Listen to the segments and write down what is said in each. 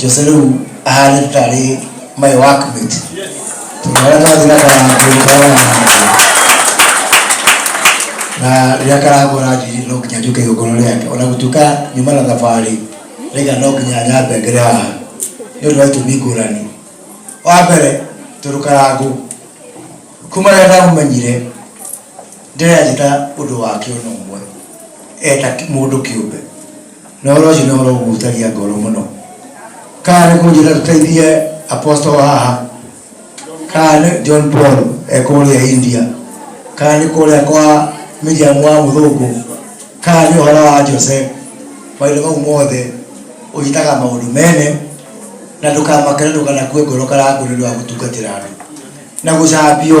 Jose rĩu ahana tarĩ my workmate tondũ harĩa twathiĩ na karangũ ndĩkoragwo na karangũ na rĩrĩa karangũ aranjĩrire no nginya njũke igongona rĩake ona gũtuĩka nyuma na thabarĩ rĩga no nginya nyambe ngere haha nĩ ũndũ wa itũmi ngũrani wa mbere tondũ karangũ kuma rĩrĩa ndamũmenyire Ndĩrathiĩ na ũndũ wake o na ũmwe e ta mũndũ kĩũmbe. Na ũhoro ũcio nĩ ũhoro ũngĩhutagia ngoro mũno. Kana nĩ kũnjĩra tũteithie Apostle haha, kana nĩ John Paul e kũrĩa India, kana nĩ kũrĩa kwa Miriam wa mũthũngũ, kana nĩ ũhoro wa Jose, maũndũ mau mothe ũnyitaga maũndũ mene na ndũkamake na ndũkanakue ngoro kana ngoro nĩ ũndũ wa gũtungatĩra andũ na gũcambio.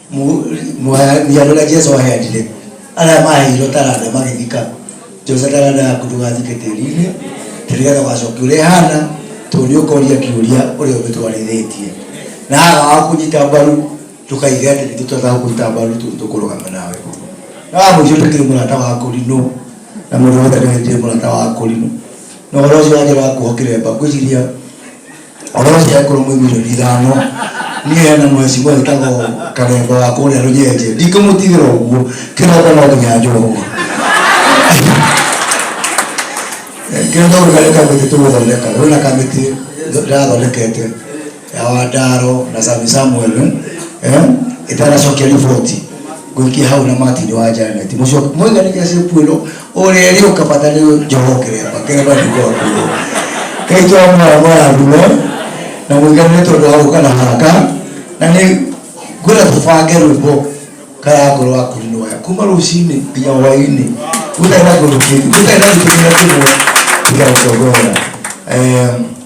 miarora jesu aheanire arĩa maheirwo taranda magĩthika josa taranda yaku ndũgathike tĩri-inĩ tondũ nĩgetha ũgacokia ũrĩa hana tondũ nĩ ũkoria kĩũria ũrĩa ũgĩtwarithĩtie na haga wa kũnyita mbaru ndũkaige atĩ nĩ tũtataga kũnyita mbaru tondũ tũkũrũgama nawe na wa mũico ndũkĩrĩ mũrata wa kũrinũ na mũndũ wothe nĩwe ndĩrĩ mũrata wa kũrinũ na ũhoro ũcio wa njĩra wa kuohokire mba ngwĩciria Ũrĩa ũcio ekũrũ mũigũrĩri ithano niĩ hena mwecimwa wĩtagwo karembo wa kũrĩa rũnyenje ndingĩmũtigĩra ũguo kĩroko no nginya njũrũma kĩrĩa tondũ karĩ kamĩtĩ tũgũthondeka wĩna kamĩtĩ ndathondekete ya wandaro na sami samuel eh, ĩtanacokia riboti ngũikia hau na martin wa janet mũiganĩria cĩkuĩno Ũrĩa ĩrĩ ũka bata nĩ njoho ngerepa ngerepa ndigwa ngũrũ Ngai to mwoya mũrathime na mũiganĩre tondũ wa gũka na haka na nĩ ngwĩra tũbange rwĩmbo kaya ngoro wa kũri nĩwaya kuma rũcinĩ nginya hwainĩ gũtarĩ na kĩndũ kĩngĩ gũtarĩ na gĩtĩ kĩrĩa kĩmwe tiga gũtongoya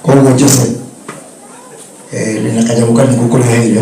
koguo Jose ndĩna kanyamũ kanini ngũkũreheire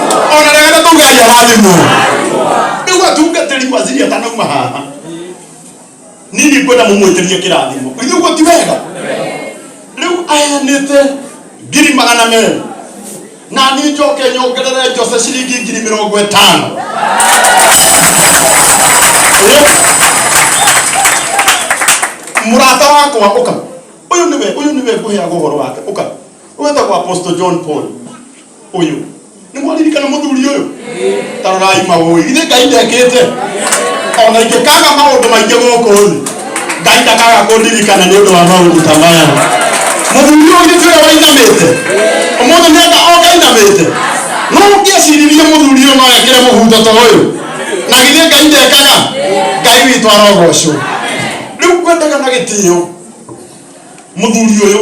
ona ndagana kuga aria rathimwo riu atungatiri waziri atanauma haha nini kwenda mumwitirie kirathimo ithu guo ti wega riu ayanite ngiri magana meri na ni njoke nyongerere njose ciringi ngiri mirongo itano Eh? murata wakwa uka uyu niwe uyu niwe nguheaga uhoro wake uka wetagwo apostle john paul ũyũ nĩ mwaririkana mũthuri ũyũ ta rorai magũĩ githĩ ngai ndekĩte ona ingĩkaga maũndũ maingĩ gũkũ thĩ ngai ndakaga kũndirikana nĩ ũndũ wa maũndũ ta maya mũthuri ũyũ githĩ tiwe wainamĩte ũmũthĩ nĩenda oka ainamĩte no ũngĩeciririe mũthuri ũyũ no ekĩre mũhuto ta ũyũ na githĩ ngai ndekaga ngai witũ arogocwo rĩu kwendaga na gĩtĩo mũthuri ũyũ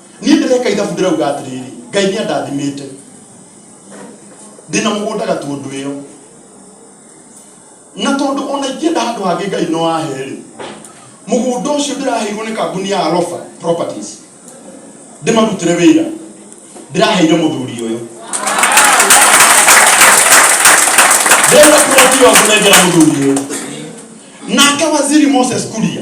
Niĩ ndĩreka ithabu ndĩrauga atĩrĩrĩ, Ngai nĩ andathimĩte. Ndĩna mũgũnda Gatũndũĩyo. Na tondũ ona ingĩenda handũ hangĩ Ngai no ahe-rĩ, mũgũnda ũcio ndĩraheirwo nĩ kambuni ya Alofa Properties ndĩmarutĩre wĩra, ndĩraheire mũthuri ũyũ. Ndĩrauna plot ĩyo ngũnengera mũthuri ũyũ. Nake waziri Moses Kuria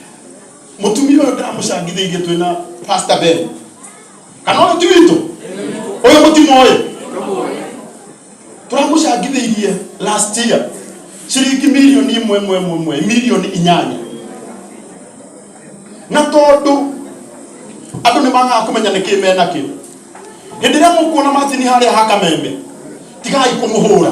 mutumia uyu ndamũcangithĩirie twĩ na pastor ben kana ũyũ ti witũ ũyũ mũtimoĩ tũramũcangithĩirie last year ciringi milioni imwe imwe imwe imwe milioni inyanya na tondũ andũ nĩ magaga kũmenya nĩkĩ mena kĩ hĩndĩ ĩrĩa mũkuona macini harĩa ha kameme tigai kũmũhũra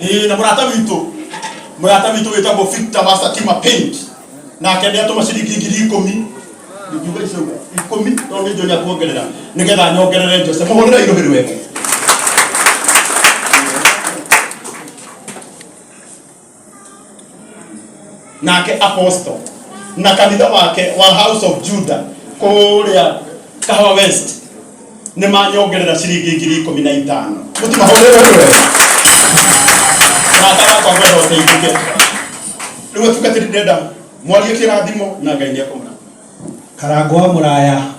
ĩĩ na mũrata witũ mũrata witũ wĩtagwo Victor wa Satima Paint nake nĩ atũma ciringi ngiri ikũmi ngiuga icio ikũmi tondũ nĩ njonia kuongerera nĩgetha nyongerere Jose mũhũrĩre irũhĩ rwega nake apostle na kanitha wake wa house of juda kũrĩa kahawa west nĩ manyongerera ciringi ngiri ikũmi na itano mũtimahũrĩre rwe na ndagakwa gwenda ũteithĩke rĩu atungatĩri ndĩrenda mwarie kĩrathimo na ngai nĩekũmũra karango wa mũraya